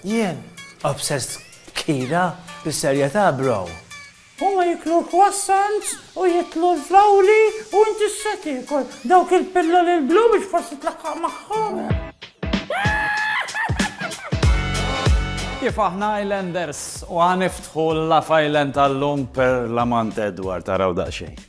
Jien, obsessed kira, bis-serjetà bro. Huma jiklu l-croissants u jitlu l-flawli u inti se tiekol dawk il-pilloli l-blu biex forsi tlaqqaq magħhom. Kif aħna Islanders u ħaniftħu l-Love Island tal-lum per l-amant Edward taraw daqsxejn.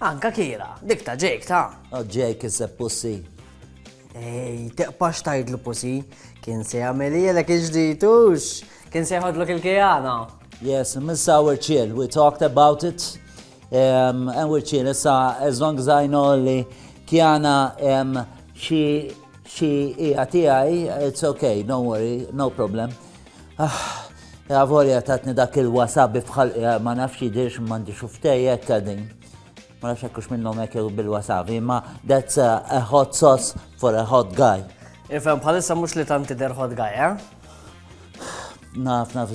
Anka Kira, dik ta' Jake ta'. Oh Jake iseb Pussy. Ej, teqpax tajdlu Pussy, kien se jagħmel jelek iġditux, kien se jħodlok il-kijana. Yes, Miss Our Chill, we talked about it. Um, and we're chill, issa, as long as I know li Kiana um, she she hija tiegħi, it's okay, don't worry, no problem. Ah, ja volja tatni dak il-wasabi f'ħalqi eh, ma nafx jidirx m'għandi xuftejjek din. Ma nafx hekk minnhom hekk bil-wasabi, ma that's a, a hot sauce for a hot guy. Ifhem bħalissa mhux li tanti der hot guy, eh? Naf, naf,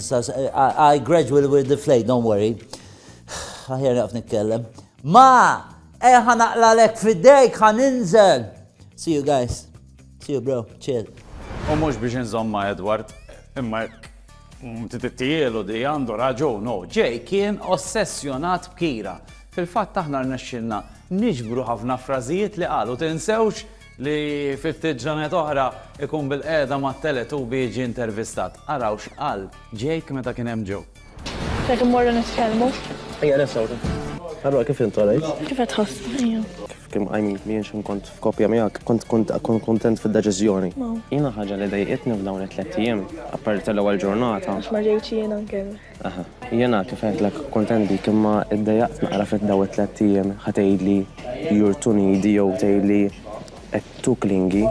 I gradually will deflate, don't worry. Aħjar naf nitkellem. Ma! Eħa eh, naqlalek fidejk, ħan inżel. See you guys. See you bro, chill. U mhux biex inżomm ma' Edward, imma tittielu di għandu raġun, no, ġej kien ossessjonat b'Kira. Fil-fatt aħna rnexxilna niġbru ħafna frażijiet li qal u tinsewx li fi ftit ġranet oħra ikun bil-qiegħda mat-Teletubby jiġi intervistat. Araw x'qal Jake meta kien hemm Joe. Jekk immorru nitkellmu. Ejja nesawru. Allora kif int għalajt? Kif qed ħass? Ejja. Kif kim qajmin li jien kont f'kopja miegħek, kont kont kontent fid-deċiżjoni. Jiena ħaġa li dejqitni f'dawn it-tliet ijiem, apparti tal-ewwel ġurnata. Għax ma ġejtx jien anke. Aha. Jiena kif għedtlek kontent bik imma iddejjaqt naqra fid-daw it-tliet ijiem ħa tgħidli you're too needy jew tgħidli Qed tu klingi.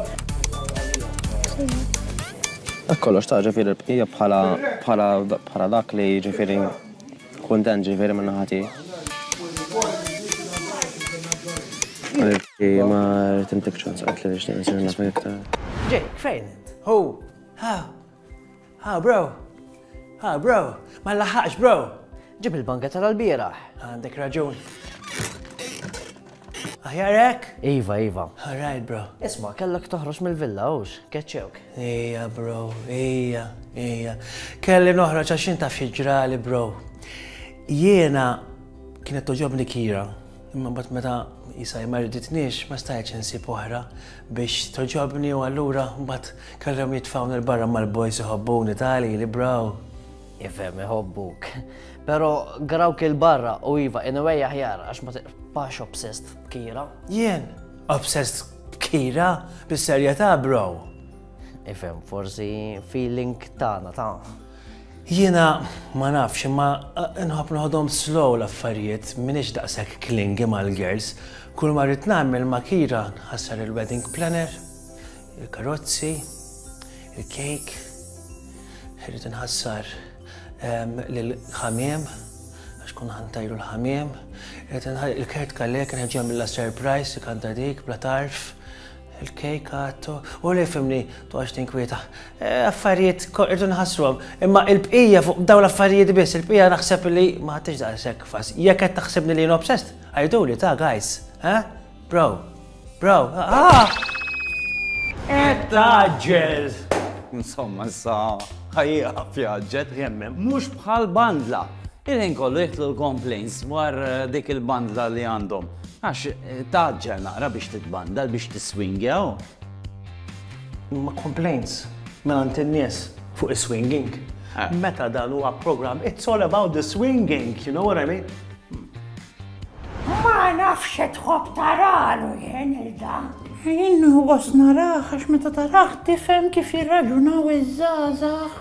Dak kollox ta' ġifieri l-bqija bħala bħala bħala dak li ġifieri kuntent ġifieri minn naħa tiegħi. Għaliex ma rrid intik ċans qatt li nixtieq nsir nafek iktar. Jake, fejn int? Hu, ha, Ha bro! Ha bro! Ma nlaħħaqx bro! Ġib il-banga tal-bieraħ. Għandek raġun. Aħjarek? Iva, Iva. Alright, bro. Isma, kellek toħroġ mill-villa, ux, keċċewk. Ija, bro, ija, ija. Kelli noħroġ għax jien taf xieġrali, bro. Jiena kienet toġobni kira. Imma mbagħad meta jisaj ma riditniex, ma stajtx insib oħra biex toġobni u allura mbagħad kellhom jitfawni l-barra mal-bojs iħobbuni tali li braw. Ifhem iħobbuk. Pero grawk il-barra u iva in a way aħjar għax ma tiqpax obsessed b'kira. Jien, obsessed b'kira bis-serjetà bro. Ifhem, forsi feeling tagħna ta' Jiena ma nafx imma nħobb noħodhom slow l-affarijiet, m'iniex daqshekk clingy mal-girls. Kull ma rrid nagħmel ma' Kira nħassar il-wedding planner, il-karozzi, il-cake, irrid inħassar ehm, l-ħamiem, għax kun ħantajru l-ħamiem, il-kert kallek nħeġġu mill surprise ikanta dik bla tarf, Il-kejk għattu, u li fimni, tu għax tinkwieta. E, affarijiet irdu nħassruhom, imma il-bqija fuq daw l-affarijiet biss, il-bqija naħseb li ma ħadtix daqshekk fas. Jekk qed taħsibni li nobsest, għajdu li ta' guys, ha? Bro, bro, ah! Qed taġġel! Insomma, sa ħajja fjaġġet jemmem, mhux bħal bandla. Il-ħin kollu jidħlu l-complaints dwar dik il-bandla li għandhom għax tgħaġġel naqra biex titbandal biex tiswingja u. Imma complaints mingħand in-nies fuq is-swinging meta dan huwa programm it's all about the swinging, you know what I mean? Ma nafx xe tħobb taralu jien il-da. Jien nħoss narah għax meta tarah tifhem kif jirraġunaw iż-żgħażagħ.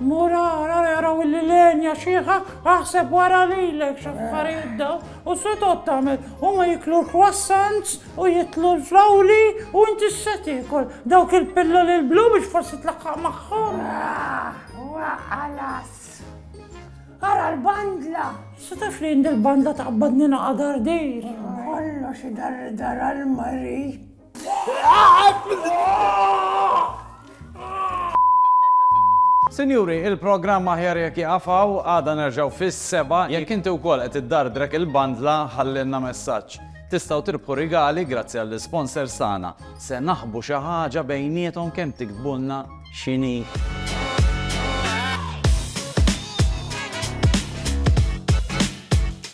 Mur ara jaraw illi l-għenja xieħa, aħseb wara lilek x'affarijiet daw u se tgħod tagħmel. Huma jiklu l-croissants u jitlu l-flawli u inti se tiekol dawk il-pilloli l-blu biex forsi tlaħħaq magħhom. Wa ħalas. Ara l-bandla. Se taf li jindi l-bandla taqbadni naqadardir. Kollox idar dara l-mari. Sinjuri, il-programm aħjar jekk jaqafaw għada nerġgħu fis-seba' jekk inti wkoll qed iddardrek il-bandla ħallilna messaġġ. Tistgħu tirbħu rigali grazzi għall-isponsors tagħna. Se naħbu xi ħaġa bejniethom kemm tiktbulna x'inhi.